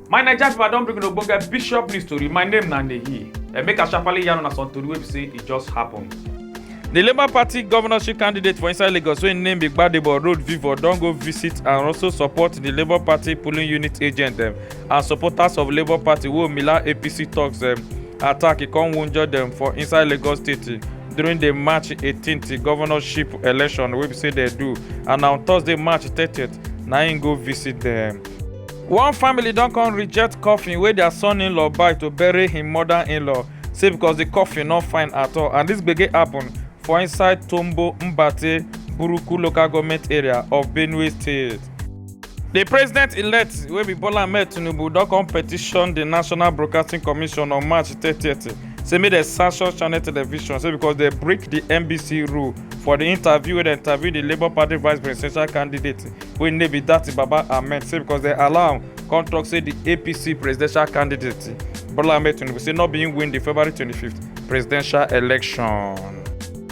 my naija people i don bring una ogbonge bishop news tori my name na neyi and make i sharparly yarn una some tori wey be say e just happen. di labour party governorship candidate for inside lagos wey im name be gbadebo road vivo don go visit and also support di labour party polling unit agent dem and supporters of labour party wey omila apc tok dem attack e come wunjure dem for inside lagos state during di march 18th governorship election wey be say dem do and na on thursday march 30th na im go visit dem. one family don come reject coffin wey their son-in-law buy to bury him mother-in-law say because the coffin no fine at all and this gbege happen for inside tombo mbate buruku local government area of benue state. The president-elect wey be Bola Ahmed Tinubu don come petition the National Broadcasting Commission on March 30th say make dem sanction Channel Television say because dem break the NBC rule for the interview wey dem interview the Labour Party vice presidential candidate wey name be Datti Baba Ahmed say because dem allow am come talk say the APC presidential candidate Bola Ahmed Tinubu say no be him win the February 25th presidential election.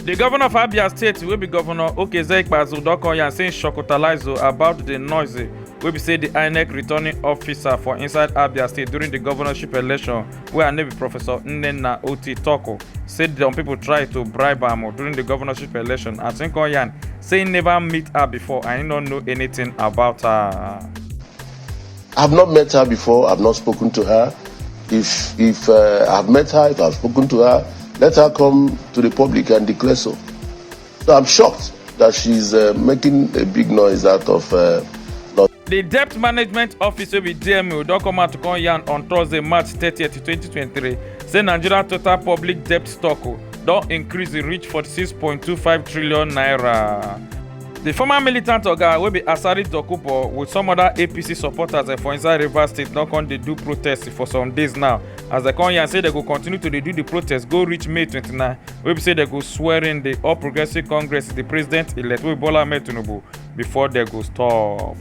di govnor of abia state wey be govnor okezie ikpeazu don come yarn say im shocktalize o about di noise wey be say di inec returning officer for inside abia state during di govnorship election wey her name be professor nnenna oti tok o say some pipo try to bribe am o during di govnorship election as im come yarn say im neva meet her before and im no know anytin about her. I've not met her before. I've not spoken to her. If if uh, I've met her, if I've spoken to her, let her come to the public and declare so. So I'm shocked that she's uh, making a big noise out of. Uh, di debt management office wey be dmo don come out to come yarn on thursday march 30 2023 say nigeria total public debt stock don increase reach 46.25 trillion naira. di former militant oga wey be asari dokubo wit some oda apc supporters eh, for inside rivers state don come dey do protest for some days now as dem come yarn say dem go continue to dey do di protest go reach may 29 wey be say dem go swear in di all progressives congress di president elect wey bola ahmed tinubu before dem go stop.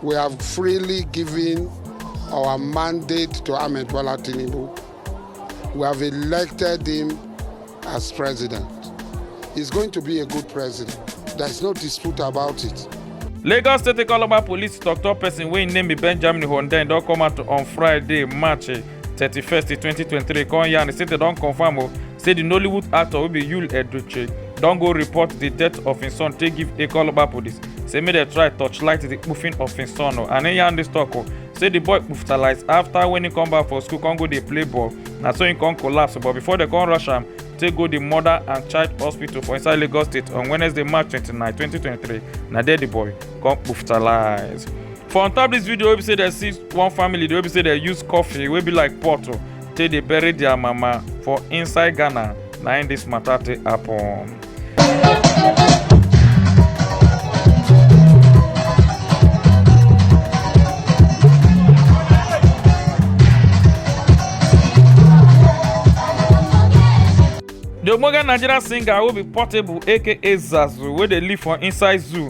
We have freely given Our mandate to Ahmed Bola Tinubu, we have elected him as president. He's going to be a good president. There's no dispute about it. lagos state calabar police tok-tok pesin wey im name be benjamin hundeyin don come out on friday march 31st 2023 come yarn say dem don confam o say di nollywood actor wey be yul edochie don go report di death of im son take give ekoloba police say make dem try torchlight di kpuffing of im son o and im yarn dis tok o say di boy kpuftalize afta wen im come back for school come go dey play ball na so im come collapse but before dem come rush am take go di mother and child hospital for inside lagos state on wednesday march 29 2023 na there di boy come kpuftalize. for on top this video wey be say dem see one family wey be say dem use coffee wey be like pot o take dey bury their mama for inside ghana na im this matter take happen. the ogbonge nigerian singer wey be portable aka zazu wey dey live for inside zoo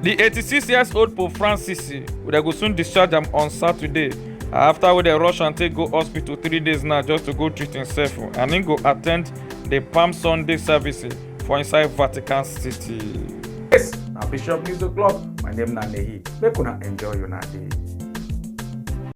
di 86 years old pope francis dem go soon discharge am on saturday afta wey dem rush am take go hospital three days now just to go treat imsef and im go attend di palm sunday service for inside vatican city. yes na bishop news o'clock my name na nehi make una enjoy una day.